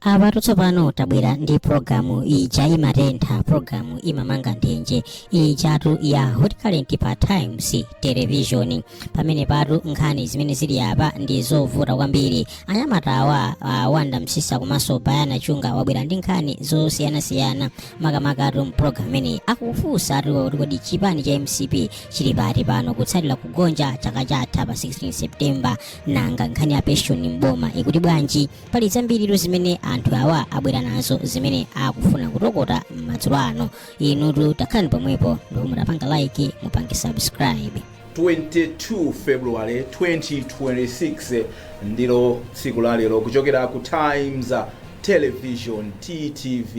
apatu tsopano tabwera ndi pulogalamu ija imatentha pulogalamu imamanga nthenje ijatu ya hot current pa times television pamenepatu nkhani zimene zili apa ndi zovuta kwambiri anyamatawa uh, wanda msisa komanso bayana chunga wabwera ndi nkhani zosiyanasiyana makamakatu mpulogalamu imeneyi akufunsa ati kuti kodi chipani cha mcp chili pati pano kutsatira kugonja chaka chatha pa 16 septemba nanga nkhani ya pension mboma ikuti bwanji pali zambiritu zimene anthu awa abwera nazo zimene akufuna kutokota madzulo ano inutu takhalani pomwepo ndipo mutapanga like mupange subscribe 22 february 2026 ndilo tsiku lalero kuchokera ku times television ttv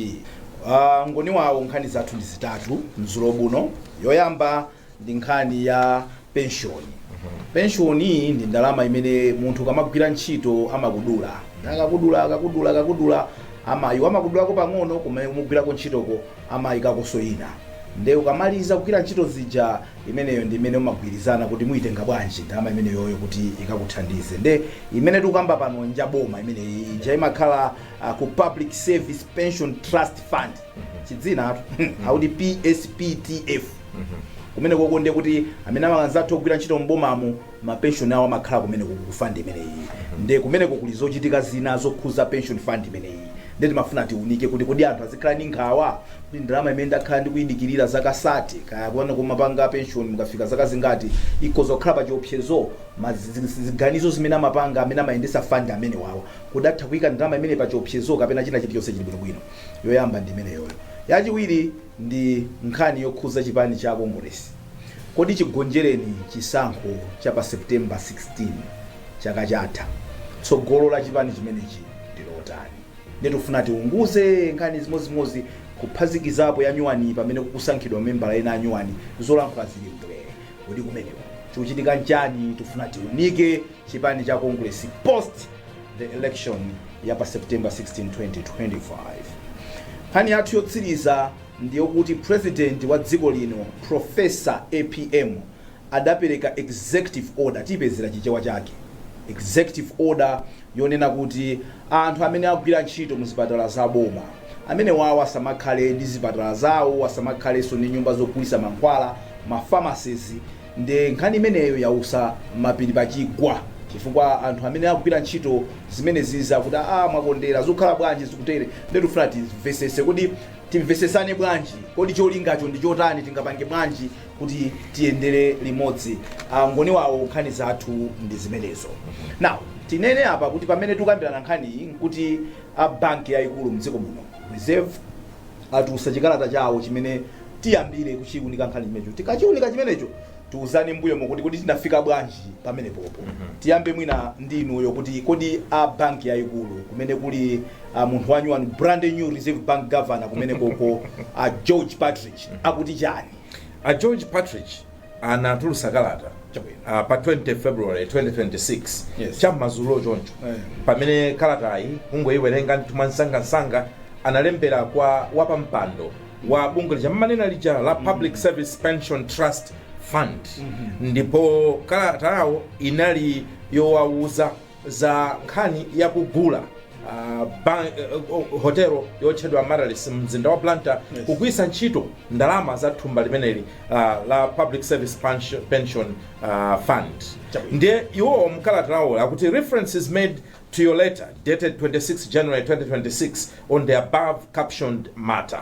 Uh, ngoni wawo nkhani zathu ndi zitatu mzulo uno yoyamba ndi nkhani ya penshoni penshoni ndi ndalama imene munthu ukamagwira ntchito amakudula akakudula akakudula akakudula amayi amakudulako pang'ono kumene kumugwirako ntchitoko amayikakonso ina nde ukamaliza kugwira ntchito zija imeneyo ndi imene umagwirizana kuti muyitenga bwanji ndalama imeneyoyo kuti ikakuthandize nde imene tikukamba pano njaboma imeneyi ija imakhala a ku Public Service Pension Trust Fund chidzinatu akuti PSPTF kumene koko ndiye kuti amene anzathu ogwira ntchito m'bomamo mapenshoni awo amakhala kumeneku ku fund imeneyi ndiye kumeneko kuli zochitika zina zokhuza pension fund imeneyi ndiye timafuna tiunike kuti kodi anthu azikhala ndi nkhawa kuti ndalama imene ndakhala ndikuyidikirira zaka 30 kaya kuona kumapanga pension mukafika zaka zingati ikhoza kukhala pa chiopsezo ma zi- zi- ziganizo zimene amapanga amene amayendetsa fund amene wawo zingathe kuika ndalama imeneyi pa chiopsezo kapena china chili chonse chili bwino bwino. Yoyamba ndi imeneyoyo. Yachiwiri ndi nkhani yokhuza chipani cha Kongolesi. Kodi chigonjereni chisankho cha pa September 16 chaka chatha, tsogolo la chipani chimenechi ndi lotani? Ndiye tikufuna tiunguze nkhani zimodzimozi kuphatikizapo ya nyuwaniyi pamene kukusankhidwa mamembala ena a nyuwani, zolankhula zili mbwee. Kodi kumeneko chikuchitika nchani? Tikufuna tiunike. chipani cha Kongeresi post the election ya pa September 16, 2025. Nkhani yathu yotsiriza ndiyokuti president wa dziko lino Professor apm adapereka executive order, tipezera chichewa chake, executive order yonena kuti anthu amene agwira ntchito mu zipatala za boma amene wawo asamakhale ndi zipatala zawo, asamakhalenso ndi nyumba zogulitsa mankhwala, ma pharmacies, Nde nkhani imeneyo yausa mapiri pa chigwa chifukwa anthu amene akugwira ntchito zimenezizi akuti aah mwakondera zikukhala bwanji zikutere nde tikufuna timvesese kodi timvesesane bwanji kodi cholingacho ndi chotani tingapange bwanji kuti tiyendere limodzi Angoni wawa nkhani zathu ndi zimenezo now tinene apa kuti pamene tikukambirana nkhaniyi nkuti a banki yayikulu mdziko muno reserve atulutsa chikalata chawo chimene tiyambire kuchiunika nkhani chimenecho tikachiunika chimenecho tiuzane mbuyomo kuti kodi tinafika bwanji pamenepopo tiyambe mwina ndi inuyo kuti kodi a banki yayikulu kumene kuli munthu wanyuwani brand new reserve bank governor kumenekoko a george partridge akuti chani a george partridge anatulutsa kalata Chabwino. ah, pa 20 february 2026 Yes. cham'madzulo choncho Eh. pamene kalatayi kungoyiwerenga ndithu mwansangansanga analembera kwa wapampando wa bungwe lija mmanena lija la public service pension trust fund ndipo kalatayo inali yowawuza za nkhani ya kugula ah, ban- eh, eh, hotelo yotchedwa Amaryllis mumzinda wa Blantyre Yes. kugwiritsa ntchito ndalama za thumba limeneli ah, la Public Service Pension- Pension ah, Fund Chabwino. ndiye iwowo mkalata yawo akuti reference is made to your letter dated 26 January 2026 on the above captioned matter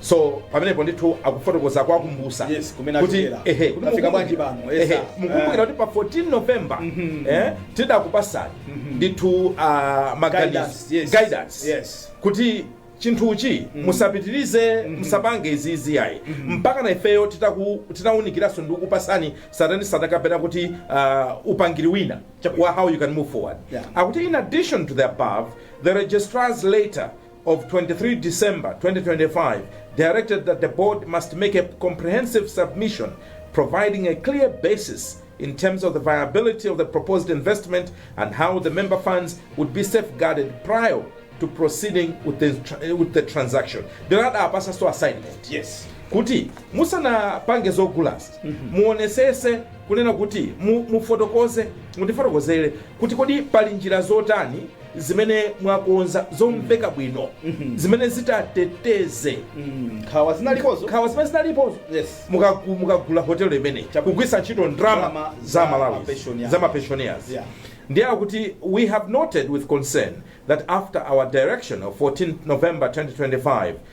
so pamenepo ndithu akufotokoza kuwakumbusa Yes, kumene kuti achokera. ehe kuti Tafika mukumbukira- bwanji pano, yes, ehe, sir. mukumbukira kuti pa 14 november Mhm. eh, tidakupasani Mhm. ndithu ah, maganizo Guidance, yes. guidance Yes. kuti chinthuchi musapitirize musapange izizi yayi mpaka na ifeyo titaku- titawunikiranso ndi kukupasani zitani zitani kapena kuti ah, upangiri wina Chabwino. wa how you can move forward Yeah. akuti in addition to the above the registrar's letter of 23 December 2025 directed that the Board must make a comprehensive submission providing a clear basis in terms of the viability of the proposed investment and how the member funds would be safeguarded prior to proceeding with the, tra- with the transaction. Ndirada apasa so assignment. Yes. kuti musanapange zogulazi muonesese kunena kuti mu- mufotokoze mutifotokozere kuti kodi pali njira zotani zimene mwakonza zomveka bwino zimene zitateteze nkhawa zinalipozo nkhawa zimene zinalipozo Yes. Mukagu- mukagula hotelo imeneyi Chabwino. kugwiritsa ntchito Ndalama ndrama za za malawi mapensioners. za mapensioners Yeah. ndiye akuti we have noted with concern that after our direction of 14 november 2025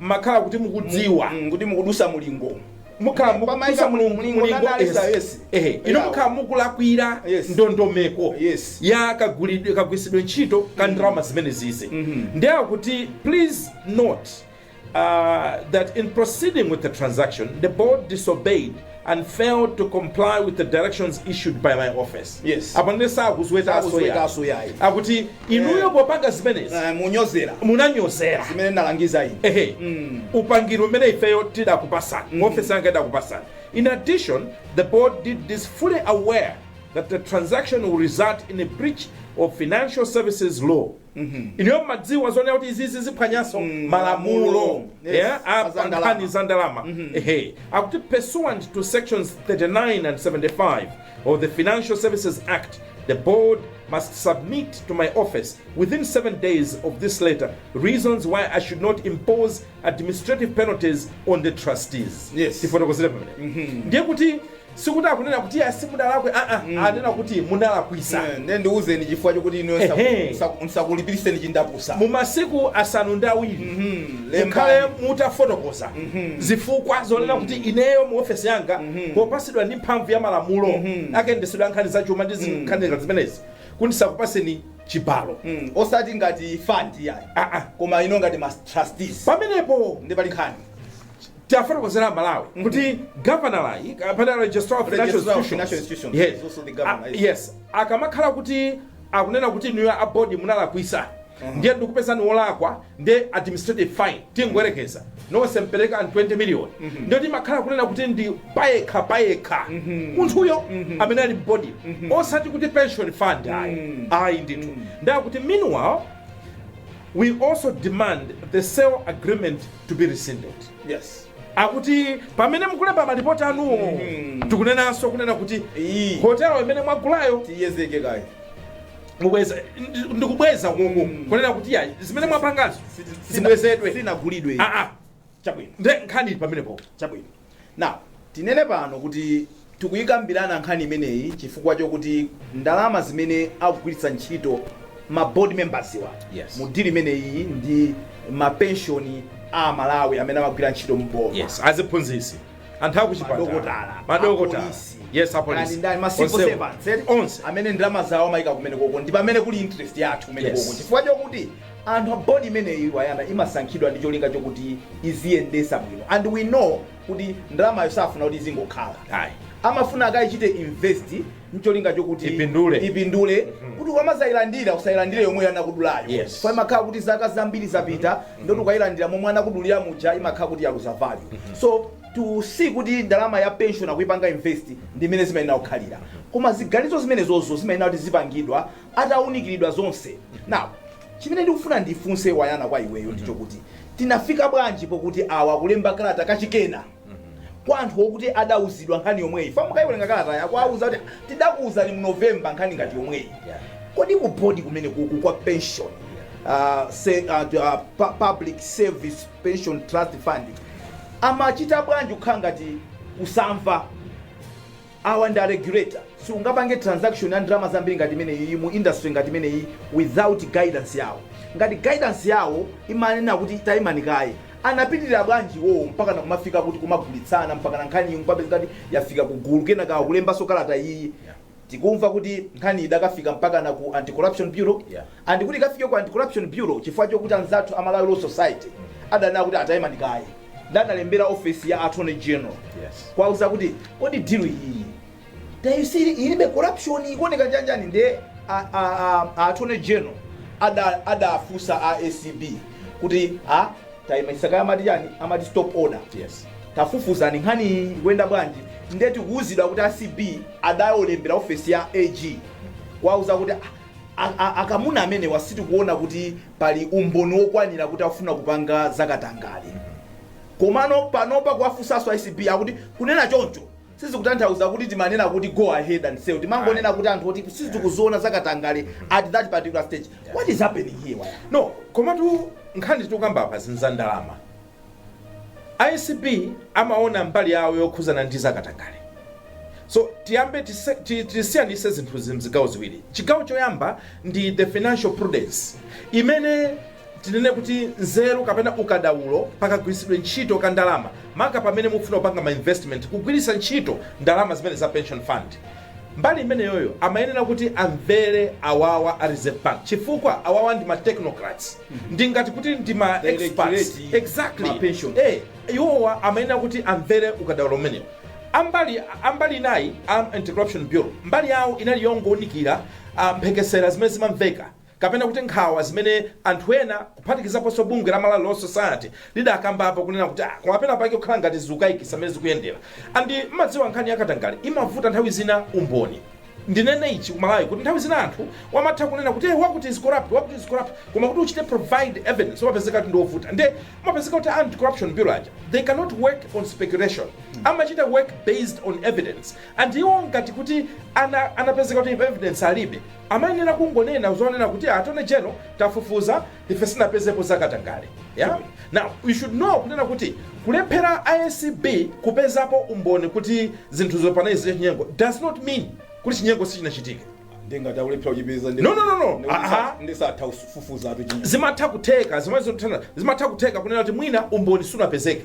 mmakhala kuti mukudziwa Mm, kuti mukudusa mulingo mukhala Pamaika mukudusa mu- mulingo mulingo mulingo, na analysis, yes. yes. Ehe, ino Yeah. mukhala mukulakwira Yes. ndondomeko Yes. ya kagwiritsidwe ntchito ka ndalama zimenezizi Mhm. ndiye akuti please note uh, that in proceeding with the transaction the board disobeyed and failed to comply with the directions issued by my office Yes. apa ndiye sakuzwetaso Sakuzwetaso yayi. yayi akuti inuyo popanga zimenezi Eh, munanyozera zimene ndalangiza ine ehe upangiri umene ifeyo tidakupasani ofesi yanga idakupasani in addition the board did this fully aware that the transaction will result in a breach of financial services law ineyo ndimadziwa zonena kuti izizi ziphwanyanso Mm, malamulo malamulo. Yes, yeah, a apa nkhani za ndalama ehe akuti pursuant to sections 39 and 75 of the financial services act the board must submit to my office within seven days of this letter reasons why i should not impose administrative penalties on the trustees Yes. tifotokozere pamenepo ndiye kuti Sikuti akunena kuti iyayi simudalakwe aa mm. anena kuti munalakwisa yeah, nde ndiuzeni chifukwa chokuti ineyo ndisakulipiritseni chindapusa mu masiku asanu ndi awiri mm -hmm. mukhale mutafotokoza mm -hmm. zifukwa zonena mm -hmm. kuti ineyo mu ofesi yanga mm -hmm. popatsidwa ndi mphamvu ya malamulo mm -hmm. a kayendetsedwe ka nkhani za chuma ndi mm. nkhani mm -hmm. zimenezi kuti ndisakupatseni chibalo mm. osati ngati fund ayi ah -ah. koma inuyo ngati ma trustees pamenepo ndiye pali nkhani tafotokozera Amalawi kuti governor-yu kapena registrar of financial Registrar of Financial institutions Institutions, yes. is also the governor, Ah, yes. yes akamakhala kuti akunena kuti inuyo a board munalakwisa ndiye ndikupezani wolakwa ndiye administrative fine tingoyerekeza nonse mupereka 20 million ndiye timakhala kunena kuti ndi payekha payekha munthuyo amene ali mu board osati kuti pension fund ayi ayi ndithu nde akuti meanwhile we also demand the sale agreement to be rescinded. Yes. akuti pamene mukulemba malipoti anuwo Mhm. tikunenanso kunena kuti Iyi. hotelo imene mwagulayo Tiyedzeke kaye. mubweza ndi- ndikubweza koko Mm. kunena kuti ayi zimene mwapangazo zibwezedwe Sinagulidwe. Ah, ah. Chabwino. nde nkhani pamenepo Chabwino. Now, tinene pano kuti tikuikambirana nkhani imeneyi chifukwa chokuti ndalama zimene akugwiritsa ntchito ma board members'wa Yes. mu deal imeneyiyi ndi ma pension a Amalawi amene amagwira ntchito mu boma. Yes, aziphunzitsi, anthu akuchipatala, Madokotala, madokotala, apolisi, yes, kaya ndi apolisi, ndani, ma civil onsewo, servants, eti? onse. amene ndalama zawo amayika kumenekoko ndi pamene kuli interest yathu kumenekoko Yes. chifukwa chokuti Anthu a board imeneyi Wayana imasankhidwa ndi cholinga chokuti iziyendesa bwino and we know kuti ndalamayo sakufuna kuti izingokhala ayi amafuna akaichite invest ncholinga chokuti Ipindule. ipindule kuti ukamadzailandira usailandire yomweyo anakudulayo Yes. chifukwa imakhala kuti zaka zambiri zapita nde kuti ukailandira momwe anakudulira muja imakhala kuti yaluza value so to see kuti ndalama ya pension akuipanga invest ndi imene zimayenera kukhalira koma ziganizo zimenezozo zimayenera kuti zipangidwa atawunikiridwa zonse now chimene ndikufuna ndifunse wayana kwa iweyo ndi chokuti tinafika bwanji pokuti awa akulemba kalata kachikenanso kwa anthu okuti adawuzidwa nkhani yomweyi chifukwa mukayiwerenga kalatayo akuwauza kuti tidakuwuzani mu novemba nkhani ngati yomweyi Yeah. kodi ku board kumenekuku kwa pension uh, se, uh, uh, pu- public service pension trust fund amachita bwanji kukhala ngati kusamva Awa ndi a regulator. Siungapange transaction ya ndalama zambiri ngati imeneyiyi mu industry ngati imeneyiyi without guidance yawo. Ngati guidance yawo imanena kuti taimani kaye, anapitirira bwanji iwowo mpakana kumafika kuti kumagulitsana mpakana nkhaniyi nkupezeka kuti yafika ku gulu kenaka akulembanso kalata iyiyi tikumva kuti nkhaniyi idakafika mpakana ku Anti-Corruption Bureau and kuti ikafike ku Anti-Corruption Bureau chifukwa chokuti anzathu a Malawi Law Society adanena kuti a taimani kaye. adalembera office ya attorney general Yes. kuwauza kuti kodi deal iyi tayisiri ilibe corruption ikuoneka njanji nde a- a- a- a attorney general ada- adafunsa a acb kuti a tayimaisaka amati chani amati stop order Yes. tafufuzani nkhani iyi ikuyenda bwanji nde tikuwuzidwa kuti acb adayolembera ofesi ya ag kuwauza kuti "Ah, a- a- akamuna amenewa sitikuona kuti pali umboni wokwanira kuti akufuna kupanga za katangale komano panopa kuwafunsanso acb akuti kunena choncho sizikutanthauza kuti timanena kuti go ahead and sell timangonena kuti anthu oti sitikuziona za katangale at that particular stage what is happening here waya no komatu nkhani tikukamba apa ndi za ndalama Acb amaona mbali yawo yokhuzana ndi za katangale so tiyambe tise- ti- tisiyanitse zinthuzi mzigawo ziwiri chigawo choyamba ndi the financial prudence imene tinene kuti nzeru kapena ukadaulo pakagwiritsidwe ntchito ka ndalama maka pamene mukufuna kupanga ma investment kugwiritsa ntchito ndalama zimene za pension fund mbali imeneyoyo amayenera kuti amvere awawa a reserve bank chifukwa awawa ndi ma technocrats ndingati kuti ndi ma experts Directorate, exactly ma pension. eh iwowa amayenera kuti amvere ukadaulo umenewo ambali ambali inayi a anti corruption bureau mbali yawo inali yongowunikira ah, mphekesera zimene zimamveka kapena kuti nkhawa zimene anthu ena kuphatikizaponso bungwe la malawi law society lidakambapo kunena kuti ah, koma pena pake kukhala ngati zikukayikitsa mmene zikuyendera and mmadziwa nkhani yakatangale imavuta nthawi zina umboni Ndinene ichi ku Malawi kuti nthawi zina anthu amatha kunena kuti ee wakuti is corrupt wakuti is corrupt koma kuti uchite provide evidence umapezeka kuti ndi wovuta nde umapezeka kuti a Anti Corruption Bureau aja they cannot work on speculation amachita work based on evidence and iwo ngati kuti ana anapezeka kuti evidence alibe amayenera kungonena zonena kuti a Attorney General tafufuza ife sitinapezepo za katangale ya now you should know kunena kuti kulephera acb kupezapo umboni kuti zinthuzo panali zachinyengo does not mean kuti chinyengo sichinachitike ndingati akulephera kuchipeza ndi- No, no, no, no. ndi- Aha. ndisatha kufufuza atu chinyengo zimatha kutheka zimene zothandana zimatha kutheka kunena kuti mwina umboni sunapezeke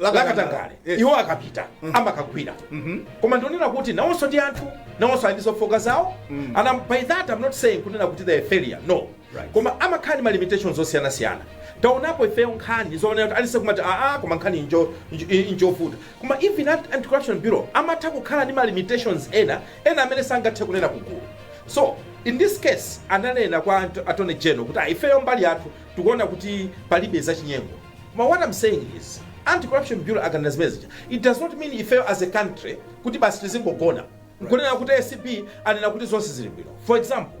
lakatangale Eh. iwo akapita amakagwira Mhm. koma ndionera kuti nawonso ndi anthu nawonso ali ndi zofooka zawo Mm. and I'm- by that i'm not saying kunena kuti they are failure no Right. koma amakhala ndi ma limitations osiyanasiyana taonapo ifeyo nkhani zoonera kutali ife kumati aa koma nkhani injo- injo- i- injovuta koma even that anti-corruption bureau amatha kukhala ndi ma limitations ena ena amene sangathe kunena kugulu so in this case ananena kwa Ant- attorney general kuti "Ah, ifeyo mbali yathu tikuona kuti palibe zachinyengo Koma what am saying is Anti Corruption Bureau akanena zimene zija it does not mean ifeyo as a country kuti basi tizingogona nkunena kuti acb anena kuti zonse zili bwino. For example,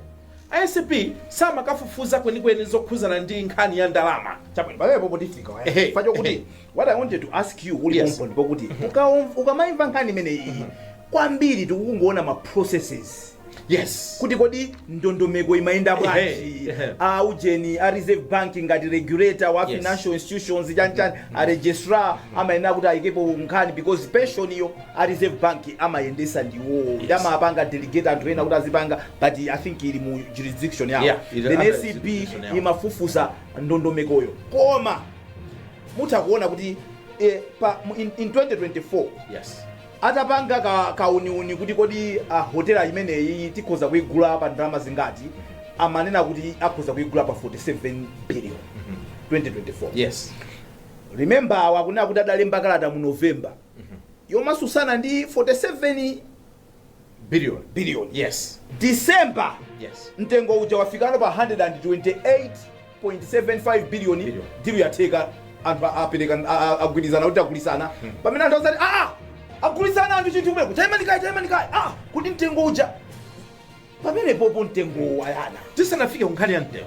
acb samakafufuza kwenikweni zokhudzana ndi nkhani ya ndalama. Chabwino. pamenepopo tifika waya. Ehe, Chifukwa chokuti ehe. what i wanted to ask you uli Yes. pomponi pokuti ukaom- ukamaimva nkhani imene iyi kwambiri tikukungoona ma processes yes kuti kodi ndondomeko imayenda bwanji Ehe, ehe. a ujeni a reserve bank ngati regulator wa Yes. financial institutions chanchani a registrar amayenera kuti ayikepo nkhani because pension iyo a reserve bank amayendesa ndi iwowo ndi Yes. amapanga delegate anthu ena kuti azipanga but i think ili mu jurisdiction yawo Yeah, ili under jurisdiction yawo. then acb imafufuza ndondomekoyo koma mutha kuona kuti eh, pa, mu- in, in 2024 yes Atapanga kauniuni kuti kodi hotela imeneyi tikhoza kuigula pa ndalama zingati, amanena kuti akhoza kuigula pa 47 billion 2024. Yes. Remember awa akunena kuti adalemba kalata mu November yomasusana ndi 47 Billion, billion, yes. December, Yes. mtengo uja wafikano pa 128.75 billion Billion. dilu yatheka anthu a- apereka a- a- agwirizana kuti agulitsana pamene anthu adzati aa agulitsana anthu chinthu kumeku chaimanikayi chaimanikayi a kuti mtengo uja pamenepopo mtengowo wayana Tisanafike ku nkhani ya mtengo.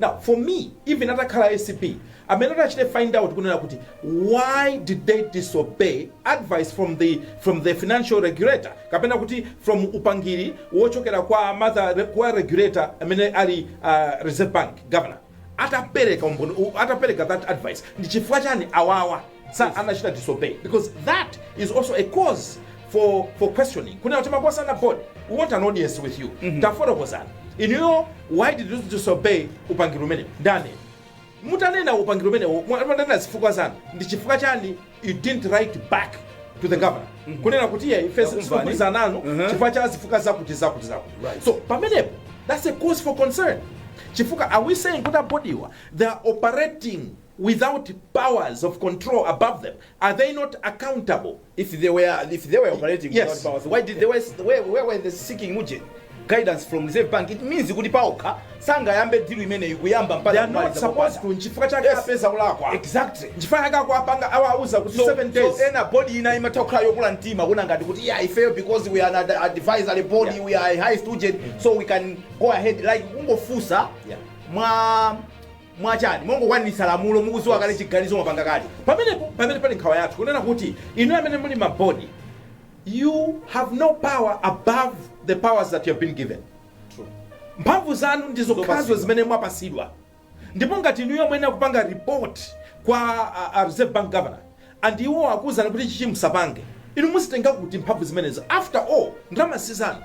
Now for me even atakhala acb amene atachite find out kunena kuti why did they disobey advice from the from the financial regulator kapena kuti from upangiri wochokera kwa mother kwa regulator amene ali uh, reserve bank governor atapereka umboni- u- atapereka that advice ndi chifukwa chani awawa anachita disobey because that is also a cause for for questioning kunena kuti makosana ana board we want an audience with you mm -hmm. tafotokozani inuyo why did you disobey upangiri umene ndani mutanena upangiri umene mutanena zifukwa zanu ndi chifukwa chani you didn't write back to the governor mm -hmm. kunena kuti ye ife sikugwirizana nanu mm -hmm. chifukwa cha zifukwa zakuti zakuti zakuti right. so pamenepo that's a cause for concern chifukwa are we saying kuti a board-wa they are operating without powers of control above them, are they not accountable? If they were if they were operating yes. without powers, why did they were, where, where were they seeking uje? guidance from Reserve Bank it means kuti paokha sangayambe deal imeneyi kuyamba mpaka they are not supposed to nchifukwa chake yes. apeza ulakwa exactly nchifukwa chake akuapanga awauza kuti so, 7 days so ena body ina imatha kukhala yokula mtima kuna ngati kuti yeah i fail because we are an advisory body yeah. we are a high student mm -hmm. so we can go ahead like kungofusa yeah. mwa mwachani mongokwanisa lamulo mukuziwa kale chiganizo mwapanga kale pamenepo pamene pali nkhawa yathu kunena kuti inuyo amene muli mu board you have no power above the powers that you have been given mphamvu zanu ndi zokhazo zimene mwapasidwa ndipo ngati inuyo mumayenera kupanga report kwa uh, uh, reserve bank governor and iwo akuuzani kuti ichichi musapange inu muzitenga kuti mphamvu zimenezo after all ndalama sizanu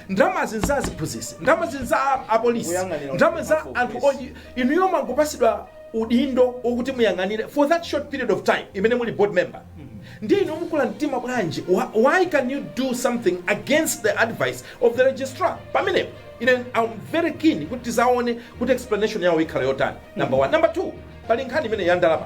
ndalamazi ndi za aziphunzisi ndalamazi ndi za apolisi Kuyang'anira ndalama za anthu inuyo mwangopasidwa udindo okuti muyang'anire for that short period of time imene muli board member ndiye inu mukula mtima bwanji Wha- why can you do something against the advice of the registrar pamenepo ine am very keen kuti tizaone kuti explanation yawo ikhala yotani number one number two pali nkhani imene ya ndalama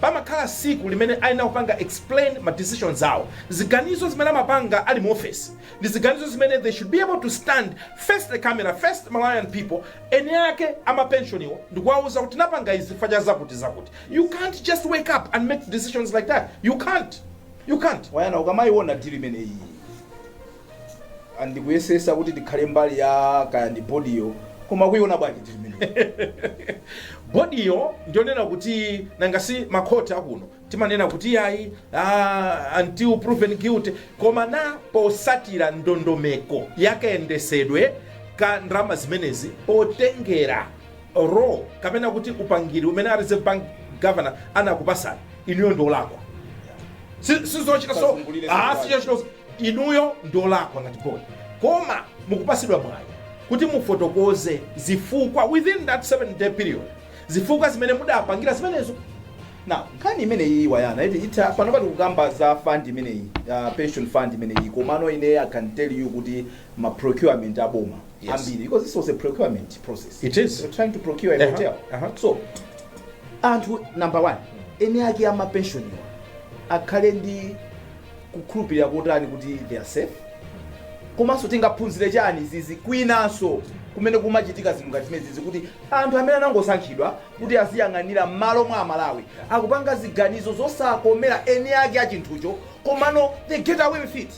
Pamakhala siku limene ayenera kupanga explain ma decisions awo, ziganizo zimene amapanga ali mu ofesi ndi ziganizo zimene they should be able to stand face the camera, face the Malawian people, eni ake a ma pensioniwo ndi kuwauza kuti tinapanga izi chifukwa cha zakuti zakuti. You can't just wake up and make decisions like that, you can't, you can't. Wayana, ukamayiwona deal imeneyi. and kuyesesa kuti tikhale mbali ya kaya ndi bodiyo koma kuiona bwanji deal imeneyo bodiyo ndiyonena kuti nanga si makhoti akuno timanena kuti ayi ah, until proven guilty koma posasatira ndondomeko yakayendesedwe ka ndalama zimenezi potengera law kapena kuti upangiri umene a reserve bank governor anakupasani inuyo ndiolakwa sizochita so Usazungulire ah, zinthu sizochita so- Inuyo ndiolakwa ngati board koma mukupasidwa mwayi kuti mufotokoze zifukwa within that 7 day period zifukwa zimene mudapangira zimenezo. Now nkhani imeneyiyi wayana eti itha panopa tikukamba za fund imeneyi ya pension fund imeneyi komano ine I can tell you kuti ma procurement a boma Yes. ambiri because this was a procurement process It is. You're trying to procure a Uh-huh, hotel uh-huh. so anthu number one eni ake ama pensioniwa akhale ndi kukhulupirira kotani kuti they are safe komanso tingaphunzire chani izi kwinanso kumene kumachitika zinthu ngati zimenezizi kuti anthu amene anangosankhidwa kuti aziyang'anira m'malo mwa amalawi akupanga ziganizo zosakomera eni ake a chinthucho komano they get away with it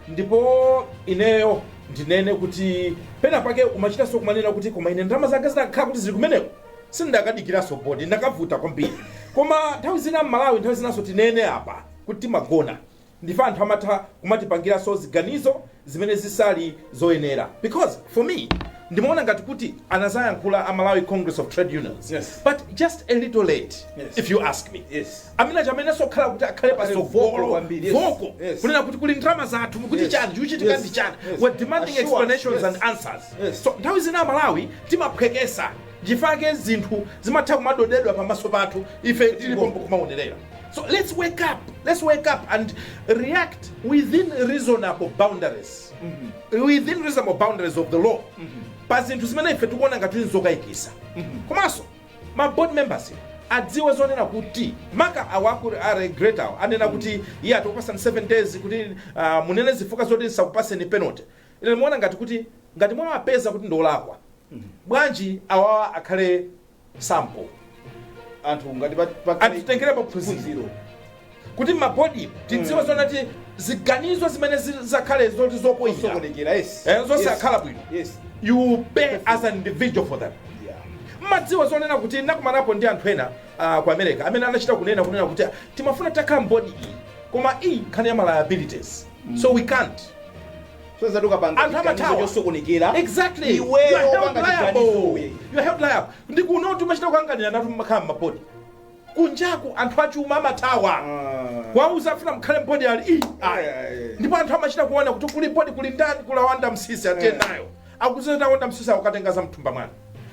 ndipo ineyo ndinene kuti pena pake umachitanso kumanena kuti koma ine ndalama zanga zinakakhala kuti zili kumeneko sindakadikiranso bodi ndakavuta kwambiri koma nthawi zina m'malawi nthawi zinanso tinene apa kuti timagona ndife anthu amatha kumatipangiranso ziganizo zimene zisali zoyenera because for me ndimaona ngati kuti anazayankhula a malawi congress of trade unions Yes. but just a little late Yes. if you ask me Yes. amene amayeneraso kukhala kuti akhale Akhale vocal pasogolo kwambiri, yes. vocal Yes. kunena kuti kuli ndalama zathu mukuti Yes. chani chikuchitika Yes. ndi chani Yes. we're demanding Assure us, explanations yes. and answers Yes. so nthawi zina amalawi timaphwekesa Nchifukwa chake zinthu zimatha kumadodedwa pamaso pathu ife tili pompo kumaonerera. So let's wake up, let's wake up and react within reasonable boundaries, within reasonable boundaries of the law pa zinthu zimene ife tikuona ngati kuti nzokayikitsa. Komanso ma board members adziwe zonena kuti maka awa aku a regulator awa anena kuti iya tikupatsani 7 days kuti ah, munene zifukwa zoti tisakupatseni penalty. Ine ndimaona ngati kuti ngati mwawapeza kuti ndi olakwa Bwanji awawa akhale sample anthu ngati pa- pa- anthu titengerepo phunziro kuti mabodi tidziwe zonena kuti ziganizo zimene zi- zakhale zoti zopoira Zosokonekera, yes. Eh, zosakhala Yes. bwino Yes. you pay as an individual for that Yeah. mudziwa zonena kuti ndakumanapo ndi anthu ena ah, ku America amene anachita kunena kunena kuti ah, timafuna takhala mbodi iyi koma iyi nkhani ya ma liabilities so we can't Sonyezatu ukapanga Anthu chiganizo amathawa. chosokonekera. Exactly. You are Iweyo held wopanga liable. chiganizowe. You are held liable. Ndi kunotu umachita kukanganiranatu mmakhala mmabodi. Kunjaku anthu achuma amathawa. Ah. Kuwauza afuna mukhale mbodi yayi. Ayi. Ayi. Ndipo anthu amachita kuona kuti kuli bodi kuli ndani kuli wa nda msisi atiye Eh. nayo. Akuziza ta wanda msisi akukatenga za mthumba mwana.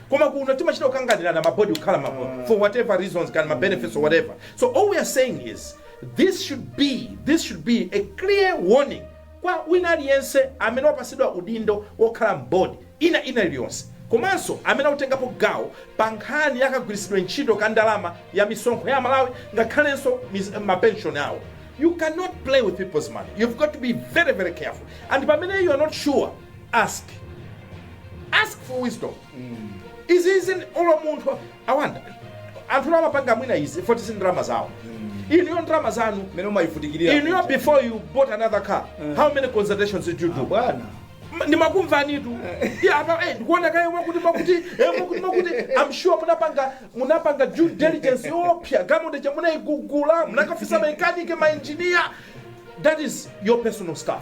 Koma kuno timachita kukanganirana mabodi kukhala mabodi for whatever reasons kaya ma benefits or whatever. So all we are saying is this should be this should be a clear warning kwa wina aliyense amene wapatsidwa udindo wokhala m'bodi ina ina iliyonse komanso amene akutengapo gawo pa nkhani ya kagwiritsidwe ntchito ka ndalama ya misonkho ya aMalawi ngakhalenso ma pension awo you cannot play with people's money you've got to be very very careful and pamene you are not sure ask ask for wisdom izizi olo munthu I wonder anthu amapanga mwina izi poti si ndalama zawo inuyo ndalama zanu mmene umayivutikirira inuyo kuja. before you bought another car how many consultations did you do bwana M- ndimakumvanitu Eya apa eh, ndikuona kaye mwakuti mwakuti eh, mwakuti mwakuti i'm sure munapanga munapanga due diligence yoopsa galimoto ija musanaigule munakafunsa mamekaniki mainjiniya that is your personal stuff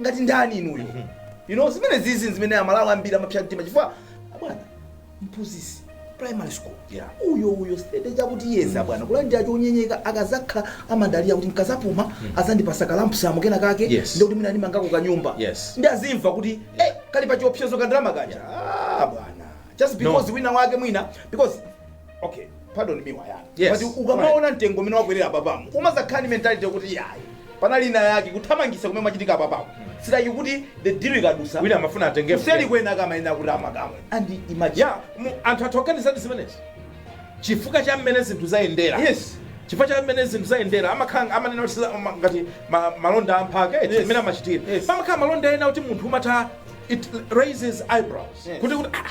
ngati ndani inuyo you know zimenezizi zimene aMalawi ambiri amapsa mtima chifukwa bwana mphunzitsi primary school Yeah. uyo uyo sitate ya kuticha bwana kulandira change chonyenyeka akadzakhala amadalira kuti nkadzapuma adzandipatsa kalampusamu kena kake Yes. ndikuti mwina ndimangeko kanyumba Yes. ndi adzimva kuti eh, kali pa chiopsezo ka ndalama kaja ah, bwana just because wina wake mwina because okay pardon me wayani Yes. but ukamaona mtengo umene wakwelera apapamu umadzakhala ndi mentality yokuti yayi panali ina yake kuthamangitsa kumene kumachitika apapamu si zoti kuti the deal ikadutsa wina amafuna atenge kuseri kwena kamayenera kuti amakamwe and imagine ya mu- anthu athu akuganizadi zimenezi chifukwa cha mmene zinthu zayendera yes chifukwa cha mmene zinthu zayendera amakhala amanena kuti siza- ma- ngati ma- malonda amphaka eti Yes. mmene amachitira Yes. pamakhala malonda ena kuti munthu umatha it raises eyebrows Yes. kuti kuti ah,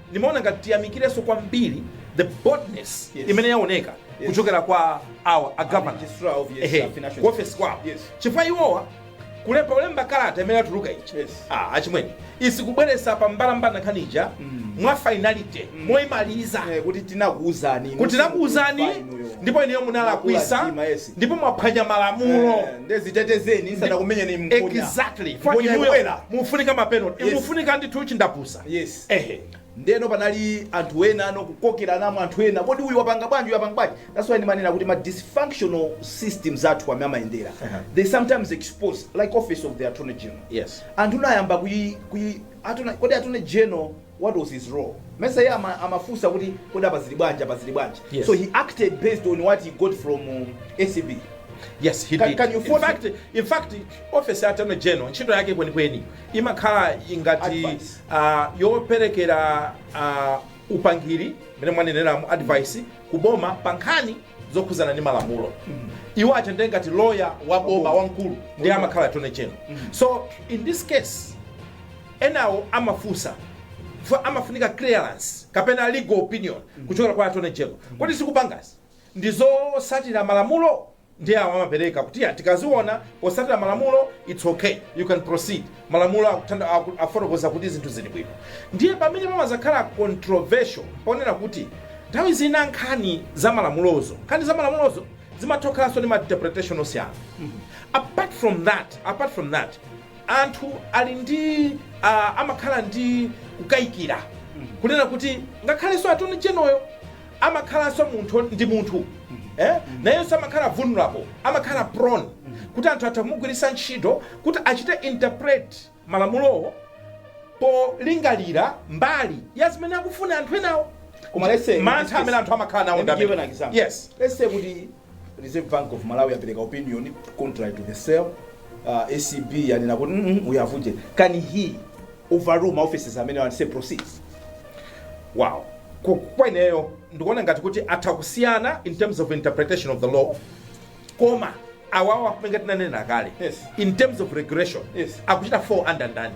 Ndimaona ngati tiyamikirenso kwambiri the boldness Yes. imene yaoneka Yes. kuchokera kwa awa a governor Registrar of yes, Ehe, uh, financial ku office kwawo Yes. chifukwa iwowa kulemba ulemba kalata imene yatuluka ichi Yes. ah, achimwene isikubweretsa pa mbalambanda nkhani ija mwa finality moimaliza Eh, kuti tinakuuzani inu, kuti tinakuuzani inu, inu, inu. ndipo inuyo munalakwisa Mwakula mtima, yes. ndipo mwaphwanya malamulo Eh, nde zitetezeni nsanakumenyeni mkonya. exactly Mkonya Fwaki inuyo ikwera. mufunika mapenalty Yes. mufunika ndithu chindapusa yes Ehe ndeno panali anthu ena anokukokeranamo anthu ena kodi uyu wapanga bwanji uyu wapanga bwanji that's why ndimanena kuti ma dysfunctional systems athu amene amayendera they sometimes expose like office of the attorney general Yes. anthu nayamba kuyi kuyi attorney kodi attorney general what was his role mesa iye ama, amafunsa kuti kodi apa zili bwanji apa zili bwanji Yes. so he acted based on what he got from um, ACB Yes, he Can- did. can you in force- fact, in fact, office ya Attorney General ntchito yake kwenikweni imakhala ngati yoperekera upangiri mmene mwaneneramo advice ku boma pa nkhani zokhudzana ndi malamulo iwo aja ndi ngati loya wa boma wamkulu ndiye amakhala attorney general so in this case enawo amafunsa chifukwa amafunika clearance kapena legal opinion kuchokera kwa attorney general kodi zikupangazi ndi zosatira malamulo ndiye awo amapereka kuti ya tikaziona posatira malamulo it's okay you can proceed malamulo akuthanda- aku- afotokoza kuti zinthu zili bwino ndiye pamene pamazakhala controversial ponena kuti nthawi zina nkhani za malamulozo nkhani za malamulozo zimatha kukhalanso ndi ma interpretation osiyana apart from that apart from that anthu ali ndi uh, amakhala ndi kukayikira kunena kuti ngakhalenso attorney general-yo amakhalanso munthu ndi munthu eh nayenso amakhala vulnerable amakhala prone kuti anthu atha kumugwiritsa ntchito kuti achite interpret malamulowo polingalira mbali ya zimene akufuna anthu enawo Koma let's say- mantha amene anthu amakhala nawo Let me ndi give you an amene- example. yes Let's say kuti Reserve Bank of Malawi yapereka opinion contrary to the sale. Uh, ACB yanena kuti mm -mm, uyavuje. Can he overrule maoffices amene and say proceed? Wow. Ku- Kwa ineyo ndikuona ngati kuti atha kusiyana in terms of interpretation of the law koma awawa kutenga tinanena kale Yes. in terms of regulation Yes. akuchita fall under ndani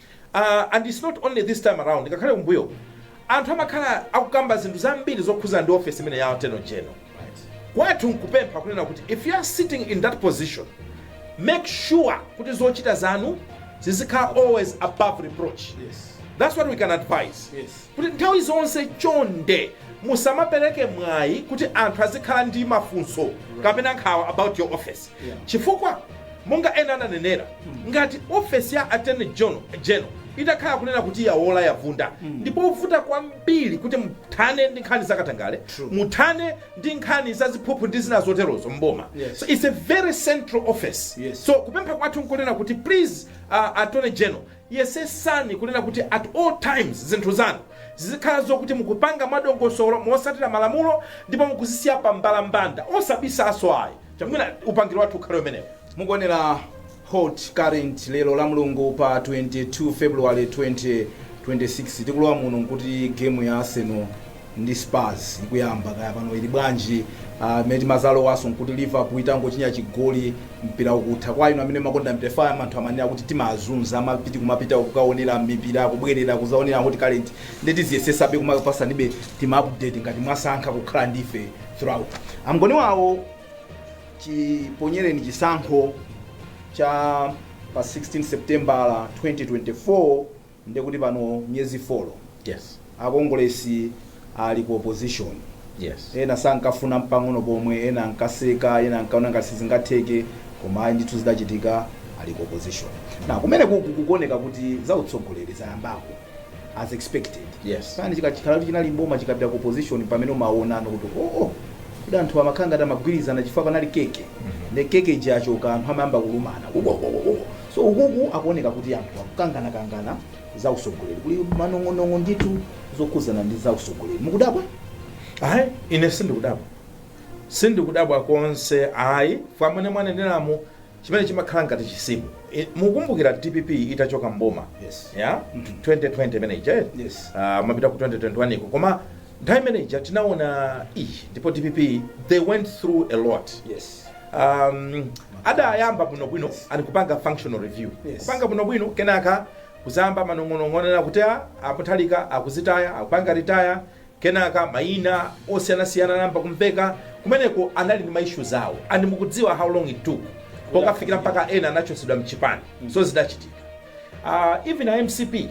Aaa and it's not only this time around ngakhale kumbuyo anthu amakhala akukamba zinthu zambiri zokhuza ndi office imeneyi ya attorney general. Kwathu nkupempha kunena kuti if you are sitting in that position make sure kuti zochita zanu zizikhala always above reproach that's what we can advise kuti nthawi zonse chonde musamapereke mwayi kuti anthu azikhala ndi mafunso kapena nkhawa about your office. Chifukwa, monga ena ananenera, ngati ofesi ya Attorney General itakhala kunena kuti yawola, yavunda, ndi povuta kwambiri kuti muthane ndi nkhani za katangale, muthane ndi nkhani za ziphuphu ndi zina zoterozo m'boma. Yes. So it's a very central office. Yes. So kupempha kwathu nkunena kuti please uh, Attorney General yesesani kunena kuti at all times zinthu zanu zizikhala zokuti mukupanga mwadongosolo mosatira malamulo ndipo mukuzisiya pa mbalambanda osabisaso ayi chamwina upangiri wathu ukhale umenewo mukuonera hot current lero la mulungu pa 22 february 2026 tikulowa muno nkuti gemu ya arsenal ndi spurs ikuyamba kaya pano ili bwanji uh, mmene timazalowaso nkuti liverpool itangochinya chigoli mpira ukutha kwa inu amene makonda mpira anthu amanena kuti timazunza amapiti kumapita kukaonera mipira kubwerera kuzaonera hot current nde tiziyesesabe kumakupasanibe tima update ngati mwasankha kukhala ndife throughout. a Ngoni wawa chiponyereni chisankho cha pa 16 september 2024 ndekuti pano miyezi 4 Yes. akongolesi ali ku opposition Yes. ena sankafuna mpang'ono pomwe ena ankaseka ena ankaona ngati sizingatheke koma ayi ndithu zidachitika ali ku opposition na kumene kuku kukuoneka kuti za utsogoleri zayambako as expected Yes. pamene chika- chikakhala kuti chinali mboma chikapita ku opposition pamene umaonano kuti oo oh, kuti anthu amakhala ngati amagwirizana chifukwa panali keke ne keke ija yachoka anthu amayamba kulumana Ubo, ubo, ubo, ubo. so ukuku akuoneka kuti anthu akukanganakangana za usogoleri kuli manong'onong'o ndithu zokhudzana ndi za usogoleri mukudabwa ayi ine sindikudabwa sindikudabwa konse ayi mwamene mwaneneramu chimene chimakhala ngati chisimu. Mukukumbukira dpp itachoka m'boma ya 2020 imene ija eti? Ah, mapita ku 2021 iko koma nthawi imene ija tinaona ii ndipo dpp they went through a lot um, adayamba bwinobwino ali kupanga functional review kupanga bwinobwino kenaka kuzayamba manong'onong'onera kuti a a Mutharika akuzitaya akupanga retire Kenaka mayina osiyanasiyana anayamba kumveka, kumeneko anali ndi ma issues awo and mukudziwa how long it took pokafikira mpaka ena anachotsedwa mchipani so zidachitika uh even a mcp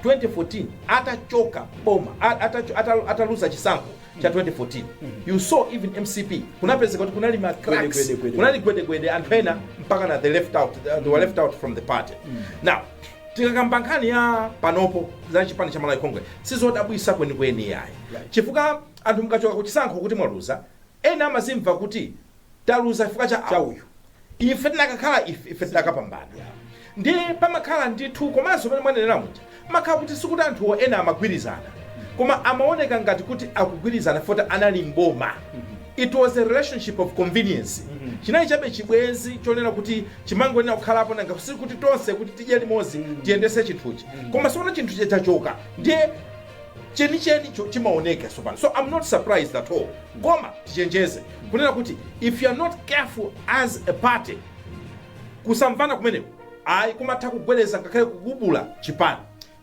2014 atachoka boma a- atacho- ata- ataluza chisankho cha 2014 you saw even mcp kunapezeka kuti kunali ma cracks, Gwedegwede, gwede. kunali gwedegwede anthu ena mpaka na they left out they were left out from the party now Tikakamba nkhani ya panopo za chipani cha Malawi Congress sizodabwisa kwenikweni yayi chifukwa anthu mukachoka kuchisankho kuti mwaluza ena amazimva kuti taluza chifukwa cha cha uyu ife tinakakhala ife ife tinakapambana ndiye pamakhala ndithu komanso mmene mwanenera muja makhala kuti sikuti anthuwo ena amagwirizana koma amaoneka ngati kuti akugwirizana foti anali mboma It was a relationship of convenience, chinali chabe chibwezi chonena kuti chimangonena kukhalapo nanga sikuti tonse kuti tidye limodzi tiyendetse chinthuchi koma sopano chinthu chija chachoka ndiye chenichenicho chimaoneka sopano so i'm not surprised at all koma tichenjeze kunena kuti if you are not careful as a party kusamvana kumeneko ayi kumatha kugwedeza ngakhale kugumula chipani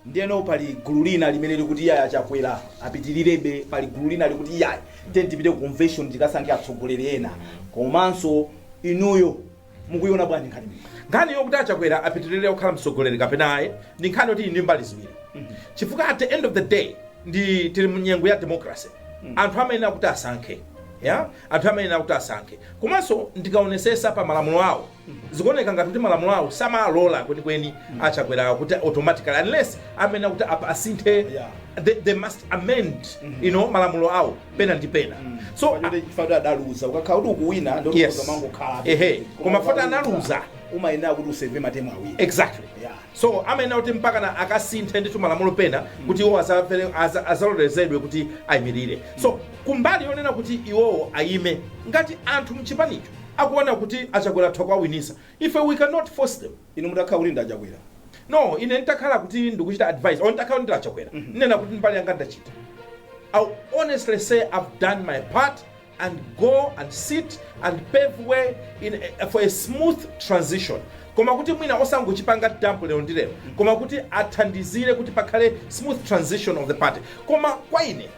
Ndiyeno pali gulu lina limene likuti iyayi a Chakwera apitilirebe, pali gulu lina likuti iyayi tiyeni tipite ku convention tikasankhe atsogoleri ena komanso inuyo mukuyiona bwanji nkhani imeneyi? Nkhani yokuti a Chakwera apitilire kukhala mtsogoleri kapena ayi ndi nkhani yoti ili ndi mbali ziwiri chifukwa at the end of the day ndi tili mu nyengo ya democracy anthu amayenera kuti asankhe yeah anthu amayenera kuti asankhe komanso ndikaonesesa pa malamulo awo Zikuoneka ngati kuti malamulo awo samalola kwenikweni a Chakwerawa kuti automatically unless amayenera kuti apa asinthe they, they must amend you know, malamulo awo pena ndi pena so a- Fact yoti chifukwa kuti adaluza ukakhala kuti ukuwina ndiye Yes. kuzamangokhala. Ehe, koma poti analuza. Umayenera kuti useve matemu awiri. exactly Yeah. so amayenera kuti mpakana akasinthe ndithu malamulo pena kuti iwo azapele- aza- azalolezedwe kuti ayimirire so kumbali yonena kuti iwowo ayime ngati anthu mchipanicho akuona kuti a Chakwera atha kuwawinisa ife we cannot force them. Inu mutakhala kuti ndi a Chakwera no ine nitakhala kuti ndikuchita advise or ntakhala kuti ndili a Chakwera ndinena kuti mbali yanga ndachita I'll honestly say I've done my part and go and sit and pave way in a, for a smooth transition koma kuti mwina osangochipanga dump lero ndi lero koma kuti athandizire kuti pakhale smooth transition of the party koma kwa ine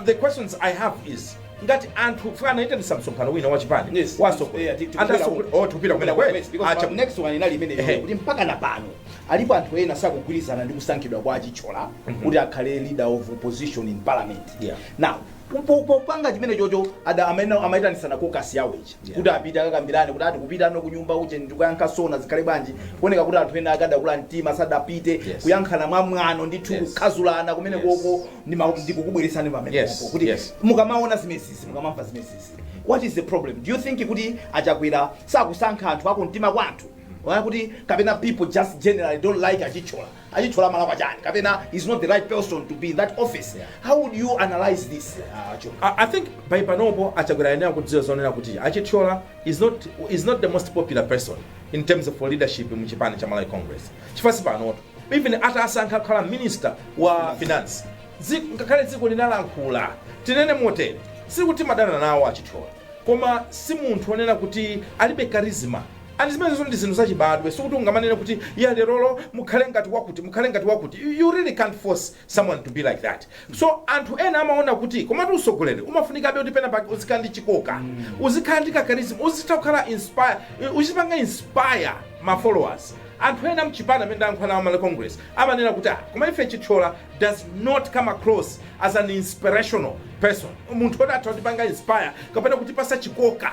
the questions i have is ngati anthu chifukwa anaitanisa msonkhano wina wa chipani Yes, wa yes, asogoleri. yeah, tikupita Anthu asogolera- kumeneko. oh, tikupita kumeneko, eh? Yes, because Acha- pa next one inali imeneyo Ehe. kuti mpakana pano alipo anthu ena sakugwirizana ndi kusankhidwa kwa a Chithyola kuti akhale leader of opposition in parliament Yeah. now po- po- popanga chimenechocho aja amene amaitanitsana kokasi yawo ichi kuti apite akakambirane kuti aa tikupitano kunyumba uje ndikuyankha sona zikhale bwanji kuoneka kuti anthu ena akadakula mtima sadapite Yes. kuyankhana mwamwano ndithu Yes. kukhazulana kumene Yes. koko ndima- ndikukubweretsani pamene Yes. popo kuti Yes. mukamaona zimenezizi mukamamva zimenezizi what is the problem do you think kuti a Chakwera sakusankha anthu akumtima kwa anthu Waya kuti kapena people just generally don't like a Chithyola A Chithyola amalakwa chani kapena he's not the right person to be in that office yeah. how would you analyze this uh, Joe? I, I think by panopo a Chakwera ayenera kudziwa zonena kuti a Chithyola is not, is not the most popular person in terms of leadership mu chipani cha Malawi Congress chifukwa si panoto even atasankha kukhala minister wa finance Dziko- ngakhale dziko linalankhula tinene motere sikuti timadana nawo a Chithyola koma si munthu onena kuti ali ndi charisma And zimenezotu ndi zinthu zachibadwe, sikuti ungamanene kuti yeah lerolo mukhale ngati wakuti, mukhale ngati wakuti, you really can't force someone to be like that. So anthu ena amaona kuti komatu usogoleri umafunikabe kuti pena pake uzikhala ndi chikoka, uzikhala ndi ka charisma, uzitha kukhala inspire, uzipanga inspire ma followers. Anthu ena mchipani amene ndayankhula nawo a Malawi Congress amanena kuti ah koma ife Chithyola does not come across as an inspirational person, munthu oti atha kutipanga inspire kapena kutipatsa chikoka.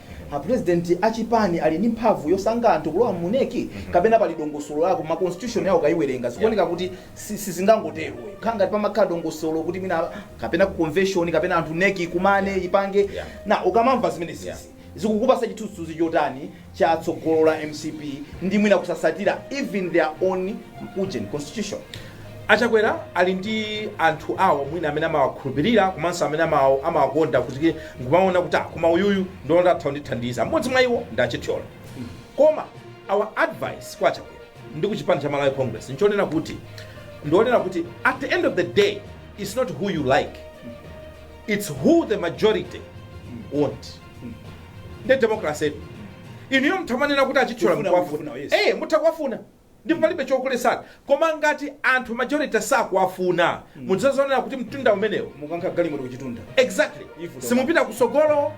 a president a chipani ali ndi mphamvu yosankha anthu kulowa mu nec kapena pali dongosolo lake ma constitution yawo ukayiwerenga zikuoneka kuti si- sizingangotero khala ngati pamakhala dongosolo kuti mwina kapena ku convention kapena anthu nec ikumane ipange Yeah. nde ukamamva zimenezizi Yeah. zikukupatsa chithunzithunzi chotani cha tsogolo la mcp ndi mwina kusatsatira even their own ujeni constitution A Chakwera ali ndi anthu awo mwina amene amawakhulupilira komanso amene amawakonda kuti nkumaona kuti ah koma uyuyu ndiona kuti atha kundithandiza. M'modzi mwa iwo ndi a Chithyola. Koma our advice kwa a Chakwera ndi ku chipani cha Malawi Congress nchonena kuti ndi chonena kuti at the end of the day it's not who you like, it's who the majority want. Nde democracy-tu. Inuyo mutha kumanena kuti a Chithyola Kufuna, mukuwafuna. kufuna, yes. Eh, mutha kuwafuna. ndipo palibe chokuletsani koma ngati anthu majority sakuwafuna mudzazionera kuti mtunda umenewo mukukankha galimoto kuchitunda, exactly Ifu toka. simupita kusogolo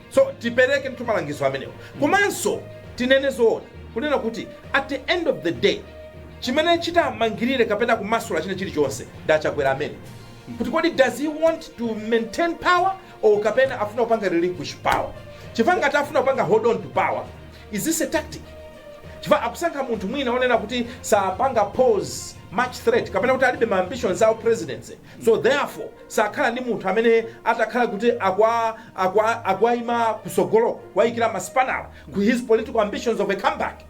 so tiperekedi malangizo amenewo komanso tinene zoona kunena kuti at the end of the day chimene chitamangirire kapena kumasula china chilichonse ndi achakwera emwe kuti kodi does he want to maintain power or kapena afuna kupanga relinquish power chifukwa ngati afuna kupanga hold on to power Is this a tactic? Chifukwa akusankha munthu mwina onena kuti sapanga pose much threat kapena kuti alibe ma ambitions a u presidency so therefore sakhala ndi munthu amene atakhala kuti aku- aku- akuwaima kusogolo kuwaikira masipanala ku his political ambitions of a comeback.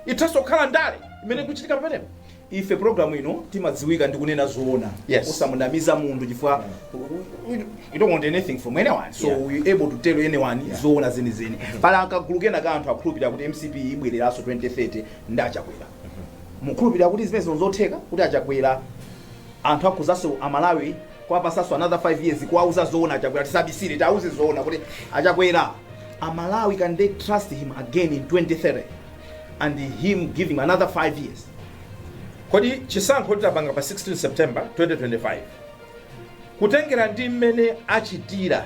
Ithanso kukhala ndale imene ikuchitika pamenepo. Ife program ino timadziwika ndi kunena zoona Yes. osamunamiza munthu chifukwa we- we don't want anything from anyone so Yeah. we able to tell anyone zoona zenizeni pali kagulu kena ka anthu akhulupirira kuti mcp ibwereranso 2030 ndi achakwera mukhulupirira kuti zimenezi ndi zotheka kuti achakwera anthu akhozanso amalawi kuwapatsanso another 5 years kuwauza zoona achakwera tisabisire tiauze zoona kuti achakwera amalawi can they trust him again in 2030 and him giving another 5 years kodi chisankho chitapangidwa pa 16 september 2025 kutengera ndi mmene achitira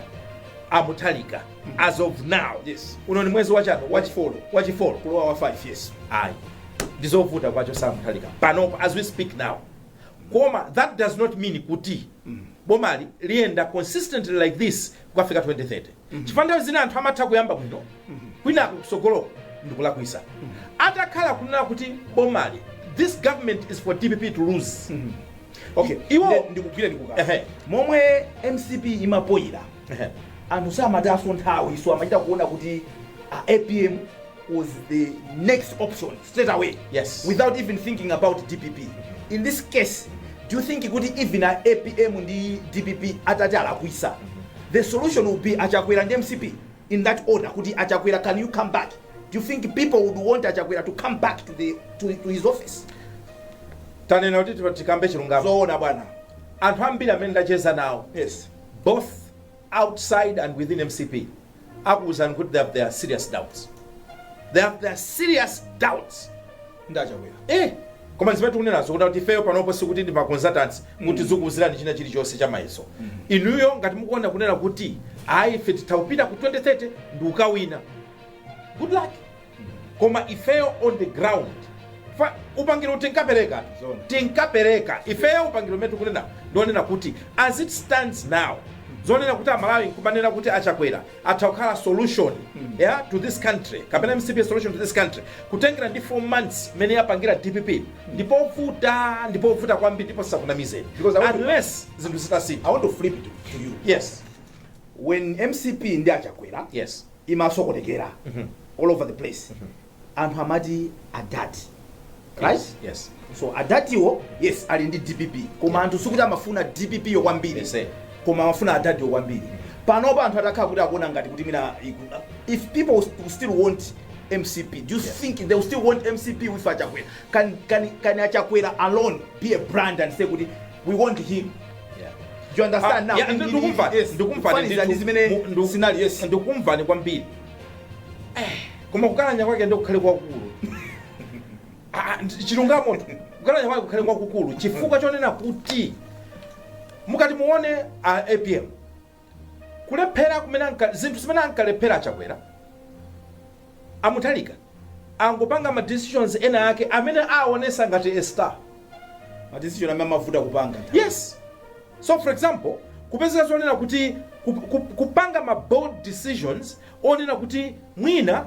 amuthalika as of now Yes. uno ni mwezi wachi- wachifolo wachifolo kulowa wa 5 yes ayi ndizovuta kuwachotsa amuthalika panopo as we speak now koma that does not mean kuti bomali liyenda consistently like this kukafika 2030 chifukwa nthawi zina anthu amatha kuyamba bwino kwinaku kutsogoloko ndikulakwisa atakhala kunena kuti bomali this government is for dpp to lose okay Iwo- Nde- ndikugwira ndikuka Ehe. momwe mcp imapoyira Ehe. anthu samataso nthawiso amachita kuona kuti uh, apm was the next option straight away Yes. without even thinking about dpp in this case do you think kuti even a apm ndi dpp atati alakwisa the solution will be achakwera ndi mcp in that order kuti achakwera can you come back do you think people would want achakwera to come back to, the, to, to his office tanena kuti tipa- tikambe chilungamo zoona bwana anthu ambiri amene ndacheza nawo yes both outside and within mcp akuuzani kuti they have their serious doubts they have their serious doubts ndi achakwera eh koma zimene tikunenazo kuti ifeyo panopo sikuti ndi maconsultants kuti tizikuuzirani china chilichonse cha mayeso inuyo ngati mukuona kunena kuti ayi ife titha kupita ku 2030 ndikukawina good luck koma ifeyo on the ground chifukwa upangiri uwu tinkaperekatu Zoona. tinkapereka ifeyo upangiri umene tikunenawo ndi wonena kuti as it stands now zonena kuti amalawi nkumanena kuti achakwera atha kukhala solution yeah, to this country kapena mcp is solution to this country kutengera ndi 4 months imene yapangira dpp ndipovuta ndipovuta kwambiri ndipo asakunamizeni Because I want to- unless zinthu zitasintha I want to flip it to you. yes When MCP ndi achakwera yes imasokonekera all over the place anthu amati adadi right yes so adadiwo yes ali ndi dpp koma anthu sikuti amafuna dpp yo kwambiri Yes, sir. koma amafuna adadi yo kwambiri panopa anthu atakhala kuti akuona ngati kuti mina iku- if people will still want mcp do you think they will still want mcp with achakwera can, can, can achakwera alone be a brand and say kuti we want him Yeah. you understand Ah, now yeah, In- ndu- in- ndikumvani, yes, ndikumvani kufanizira ndithu. ndi zimene Mu- ndu- sinali yes ndikumvani kwambiri Eh, koma kukalanya kwake ndi kukhale kwakulu Ah, ndi- chilungamo kukalanya kwake kukhale kwakukulu chifukwa chonena kuti mukati muone a apm Kulephera kumene anka, zinthu zimene ankalephera a Chakwera, a Mutharika angopanga ma decisions ena ake amene awonesa ngati a star. Ma decision amene amawavuta kupanga nthawi. Yes. So for example, kupezeka zonena kuti, ku, ku, kupanga ma bold decisions onena kuti mwina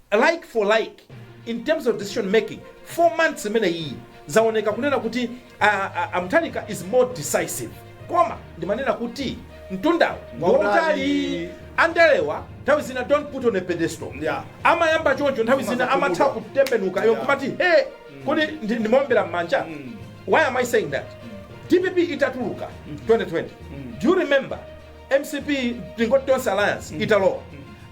like for like in terms of decision making 4 months imeneyiyi zaoneka kunena kuti a, a, a mutharika is more decisive koma ndimanena kuti mtundawo Wautali. ngwautali andalewa nthawi zina don't put on a pedestal Yeah. amayamba choncho nthawi zina Amatha amatha kumuka. kutembenuka yo Yeah. kumati he kodi ndi- ndimaombera m'manja why am i saying that dpp itatuluka 2020 do you remember Mcp tingoti Tonse alliance italowa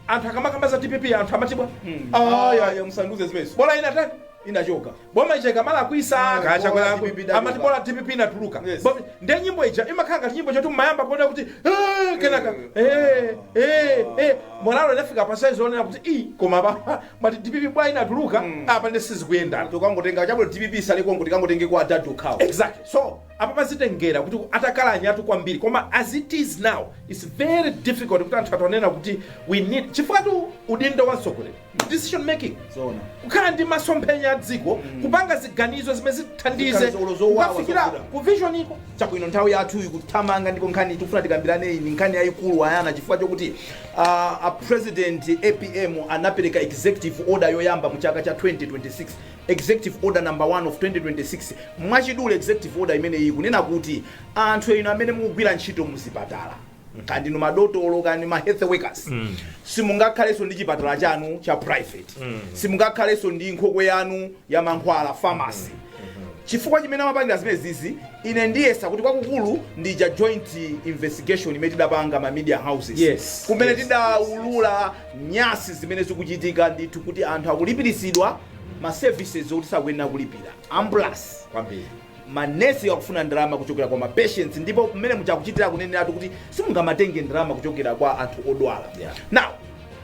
anthu akamakamba za dpp anthu amati bwa ayaya musandiuze zimenezo bola inatani inachoka boma lija likamalakwitsa Ah, kaya chakwera bola akwe- DPP idachoka. amati bola dpp inatuluka Yes. Bo- nde nyimbo ija imakhala ngati nyimbo choncho mumayamba kuona kuti "Eh, kenaka eh, eh, eh." morale inafika pa size onena kuti i koma paja mumati dpp bwa inatuluka apa nde sizikuyenda tikangotenga chabwino dpp isaliko ngoti kangotenge kwa adadu khawo exactly so Apapa zitengera kuti atakalanya atu kwambiri koma as it is now its very difficult kuti anthu atonena kuti we need chifukwa tu udindo wa mtsogoleri decision making Zoona. kukhala ndi masomphenya a dziko kupanga ziganizo zimene zithandize Ziganizo ulo zowawa kukafikira zokuda. ku vision iko chabwino nthawi yathu ikuthamanga ndipo nkhani tikufuna tikambirane iyi ndi nkhani yayikulu ayana chifukwa chokuti uh, a president apm anapereka executive order yoyamba mu chaka cha 2026 Executive Order Number 1 of 2026, mwachidule Executive Order imeneyi ikunena kuti anthu inu amene mukugwira ntchito mu zipatala, kaya ndinu madotolo, kaya ndi ma health workers, simungakhalenso ndi chipatala chanu cha private, simungakhalenso ndi nkhokwe yanu ya mankhwala, pharmacy. Chifukwa chimene amapangira zimenezizi, ine ndiyesa kuti kwakukulu ndija joint investigation imene tidapanga ma media houses. Yes, Kumene yes, tidaulula nyasi zimene zikuchitika ndithu kuti anthu akulipiritsidwa ma services okuti sakuyenera kulipira ambulance kwambiri manesi akufuna ndalama kuchokera kwa mapatients ndipo mmene muja akuchitira kuneneratu kuti simungamatenge ndalama kuchokera kwa anthu odwala Yeah. now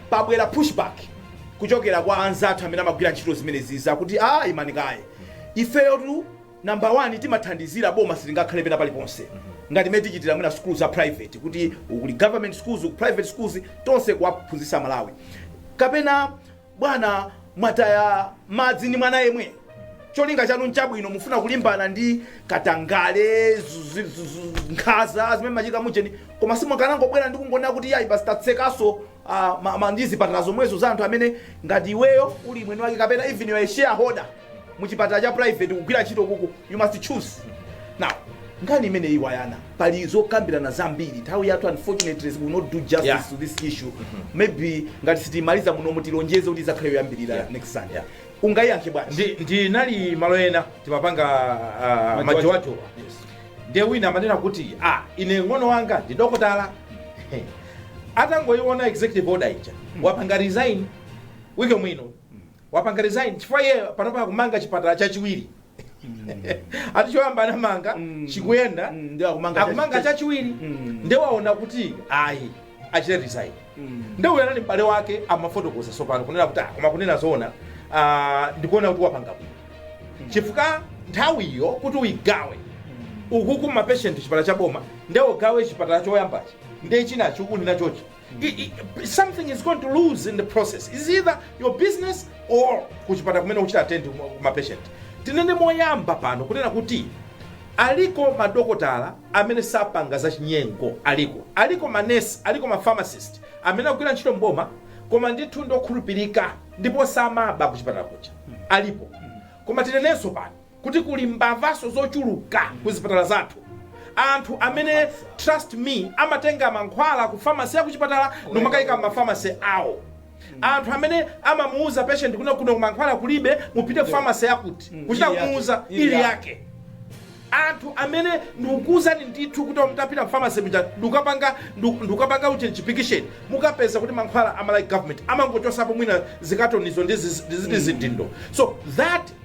pabwera pushback kuchokera kwa anzathu amene amagwira ntchito zimenezi zakuti a imani kaye ifeyotu namba 1 timathandizira boma silingakhale pena paliponse ngati mmene tikuchitira mwina sukulu za private kuti kuli government schools ku private schools tonse tikuwaphunzitsa amalawi kapena Bwana mwataya madzi ndi mwana yemwe. Cholinga chanu nchabwino mufuna kulimbana ndi katangale zu- zu- zu- zu- nkhaza zimene zimachitika mujeni koma simukanangobwera ndi kungonena kuti yayi basi tatsekanso ah, ma- ma- ndi zipatala zomwezo za anthu amene ngati iweyo uli mwini wake kapena even you are a shareholder muchipatala cha private kugwira ntchito kuku you must choose now nkhani imeneyi ayana pali zokambirana zambiri nthawi yathu unfortunately we will not do justice Yeah. to this issue mm -hmm. maybe ngati sitimaliza muno mutilonjeze kuti idzakhale yoyambirira yeah. next sunday yeah. ungayiyankhe bwanji Ndi- ndinali malo ena timapanga uh, majowajowa ndiye wina amanena kuti ah, ine ng'ono wanga ndi dokotala atangoiona executive order ija wapanga resign week imeneyino wapanga resign chifukwa iye panopa akumanga chipatala chachiwiri ati choyamba anamanga Mm. chikuyenda Mm, nde akumanga akumanga chachi- chachiwiri Mm. nde waona kuti ayi achite resign Mm. nde uyo anali m'bale wake amafotokoza sopano kunena kuti "Ah, koma kunena zoona ah, ndikuona kuti wapanga bwino chifukwa nthawiyo kuti uyigawe ukuku mapeshenti chipatala cha boma nde ugawe chipatala choyambachi nde chinachi ukunena chochi I- i- something is going to lose in the process is either your business or kuchipatala kumene ukuchita attend ma patient tinene moyamba pano kunena kuti aliko madokotala amene sapanga za chinyengo aliko aliko manesi aliko mapharmacist amene akugwira ntchito mboma koma ndithu ndokhulupirika ndipo samaba kuchipatala kuja alipo koma tinenenso pano kuti kuli mbavaso zochuluka ku zipatala zathu. Anthu amene trust me amatenga mankhwala ku pharmacy ya kuchipatala nkumakaika m'ma pharmacy awo. Anthu amene amamuuza patient kunena kuno mankhwala kulibe mupite ku pharmacy yakuti kuchita kumuuza ili yake. Anthu amene ndikukuuzani ndithu kuti mutapita ku pharmacy muja ndikukapanga ndiku- ndikukapanga uje chipikisheni mukapeza kuti mankhwala a Malawi government amangochotsapo mwina zikatonizo ndi zizi- ndi ziti zidindo. So that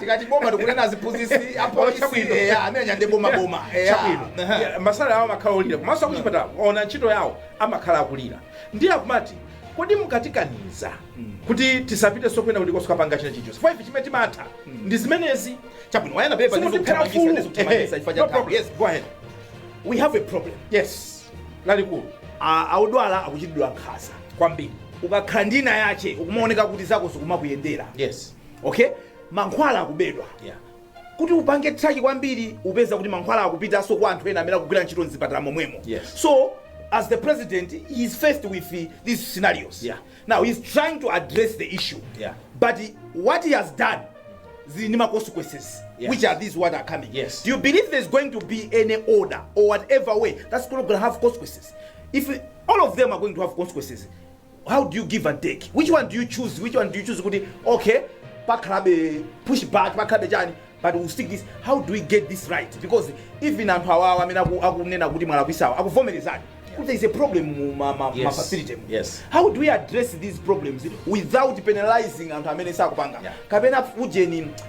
tikati boma tikunena aziphunzitsi apolisi Chabwino. eya amene anyande boma boma eya chabwino Aha. Yeah, ma salary awo amakhala olira komanso akuchipatala ona ntchito yawo amakhala akulira ndiye akumati kodi mukutikaniza kuti tisapite sokwena kuti kosakapanga chinachicho chifukwa ife chimene timatha ndi zimenezi chabwino wayana pepa Simukutiphera ufulu. ndizokuthamangisa ife Ehe, no cha problem. yes Go ahead. we have a problem yes lalikulu A- odwala akuchitidwa nkhanza kwambiri ukakhala ndina yache ukumaoneka kuti zako zikumakuyendera yes okay mankhwala akubedwa Yeah. kuti upange traki kwambiri upeza kuti mankhwala akupitanso kwa anthu ena amene akugwira ntchito mzipatala momwemo Yes. so as the president he is faced with uh, these scenarios Yeah. now he is trying to address the issue Yeah. but he- what he has done zili ndi ma consequences Yes. which are these what are coming Yes. do you believe there's going to be any order or whatever way that's going to have consequences if all of them are going to have consequences how do you give and take which one do you choose which one do you choose kuti okay pakhalabe push back pakhalabe chani but we stick this how do we get this right because even anthu awowo amene aku- akunena kuti mwalakwisawa akuvomerezani kuti there is a problem mu ma- ma- Yes. ma facility mu. Yes. how do we address these problems without penalizing anthu amene sakupanga Yeah. kapena ujeni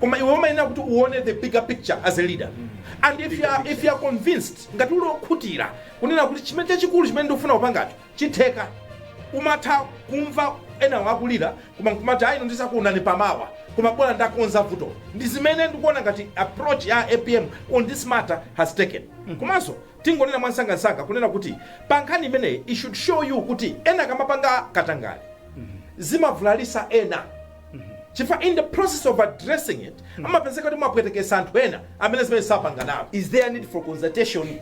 koma iwe umayenera kuti uone the bigger picture as a leader and if you are, if you are convinced ngati uli okhutira kunena kuti chimene chachikulu chimene ndikufuna kupangacho chitheka umatha kumva enawo akulira koma nkumati ayino ndizakuonani pamawa koma bola ndakonza vuto ndi zimene ndikuona ngati approach ya apm on this matter has taken komanso tingonena mwamsangamsanga kunena kuti pa nkhani imeneyi it should show you kuti ena akamapanga katangale zimavulalitsa ena chifukwa in the process of addressing it amapezeka kuti mwapweteketsa anthu ena amene zimene sapanga nawo is there need for consultation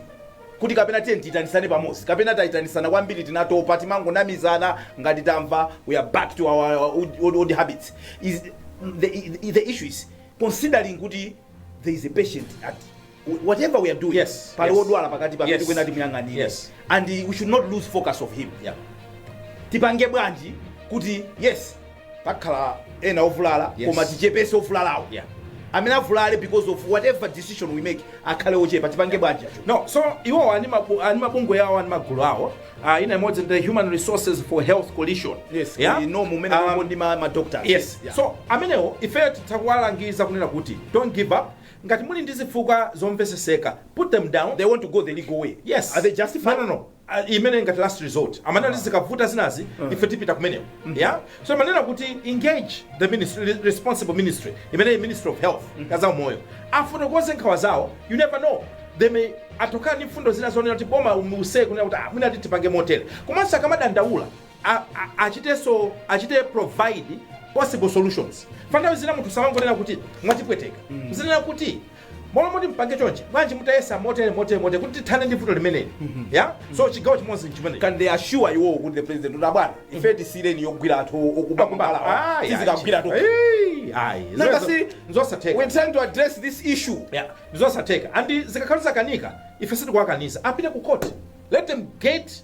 kuti kapena ti- tiyitanitsane pamodzi kapena tayitanitsana kwambiri tinatopa timangonamizana ngati tamva we are back to our old, old, old habits is the, the issue is considering kuti there is a patient at whatever we are doing yes, pali yes. odwala pakati pamene yes. tikuyenera timuyang'anire yes. and we should not lose focus of him yeah. tipange bwanji kuti yes pakhala ena ovulala yes. koma tichepese ovulalawo yeah. amene avulale because of whatever decision we make akhale ochepa tipange bwanji no so iwowa ali ndi mabungwe awo ali ndi magulu awo uh, ina imodzi the human resources for health coalition yes, yeah? no, mumene um, ndi ma, ma doctors yes. yeah. so amenewo ifeyo titha kuwalangiza kunena kuti don't give up Ngati muli ndi zifukwa zomveseseka put them down they want to go the legal way yes are they justified no no no Uh, imene ngati last resort amanena kuti zikavuta zinazi ife tipita kumeneko yeah so timanena kuti engage the ministry, re- responsible ministry imene ministry of health ya zaumoyo afotokoze nkhawa zawo you never know they may atokhala ndi mfundo zina zonena kuti boma umuseye kunena kuti ah, mwina titipange motere komanso akamadandaula a, a, achitenso achite provide possible solutions pa nthawi zina munthu samangonena kuti mwatipweteka azinena kuti molo moti mpange chonje bwanji mutayesa motere motere motere kuti tithane ndi vuto limeneli ya so chigawo chimodzi nchimene can they assure iwowo kuti the president kuti abwana ife tisiyireni yogwira anthu okuba kubalawa sizikagwiratu Nanga si- we nzosatheka trying to address this issue Yeah, nzosatheka and zikakhala zakanika ife sitikuwakaniza apite ku court let them get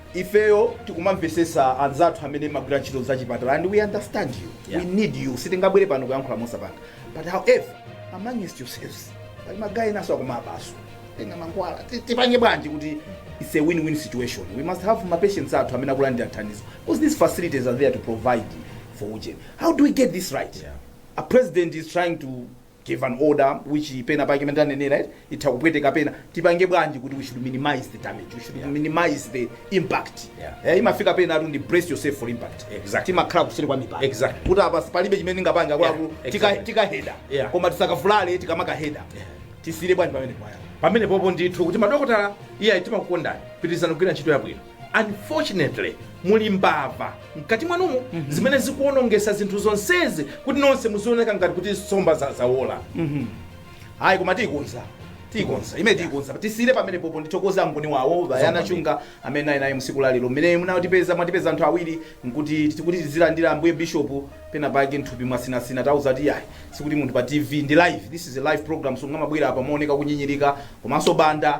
ifeyo tikuwamvesesa anzathu amene mmagwira ntchito zachipatala and we understand you yeah. we need you sitingabwere pano kuyankhula mosapanga but however amongst yourselves pali magayi enaso akumabaso kutenga mankhwala tipange bwanji kuti it's a win-win situation we must have mapatients athu amene akulandira thandizo because these facilities are there to provide for ujeni how do we get this right yeah. a president is trying to gave an order which pena pake imene tanenera eh, itha kupweteka pena tipange bwanji kuti we should minimize the damage we should Yeah. minimize the impact Yeah. eh, imafika pena atu ndi brace yourself for impact Exactly. timakhala kuseri kwa mipanda Exactly. kuti apa palibe chimene ndingapange akwaku Yeah, tika exactly. tikaheda Yeah. koma tisakavulale tikamakaheda Yeah. tisiyire bwanji pamenepa eya pamene popo ndithu kuti madokotala ife timakukondani pitirizani kugwira ntchito yabwino unfortunately muli mbava mkati mwanumo zimene zikuonongesa zinthu zonsezi kuti nonse muzioneka ngati kuti nsomba za- zawola ayi koma tiyikonza tiyikonza imene tiyikonza tisiyire pamene popo ndithokoza angoni wawo bayana chunga amene naye naye msiku lalero mmene munatipeza mwatipeza anthu awiri nkuti tikuti tizilandira ambuye bishopu pena pake nthupi mwasinasina tawauza kuti ayi sikuti munthu pa tv ndi live this is a live program so sangamabwere apa kumaoneka kunyinyirika komanso banda